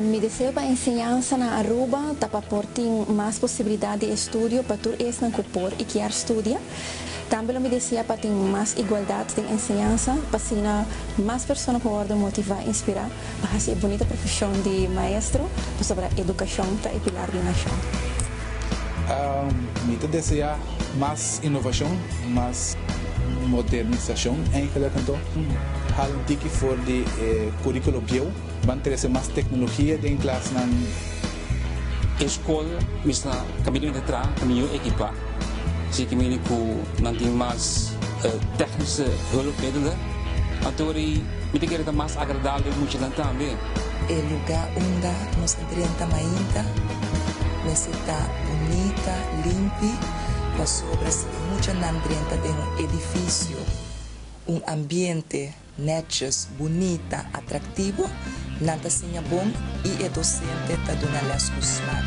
Mi deseo pa enseñansa na Aruba ta pa por tin mas posibilidad di estudio pa tur esnan cu por y kier studia. Tambe lo mi desea pa tin mas igualdad den enseñansa, p'asina mas persona por worde motiva y inspira pa haci e bunita profesion di maestro, pasobra educacion ta e pilar di un nacion. Mi ta desea mas inovashon, mas modernisashon eigenlijk anto. Hala un tiki for di e kuríkulo bieu. Ban trese mas teknologia den klasnan. E skol mester kaminyonan tra ta mihó ekipá. Si ke mini ku nan tin mas tèknische hulpmiddelen, anto ri mi ta kere ta mas agradabel muchanan tambe. E lugá unda nos. Trenta mainta mester ta bunita, limpi, pasobra si e mucha nan drenta den un edifisio, un ambiente nètjis, bunita, atraktivo, nan ta siña bon i e dosente ta duna lès ku smak.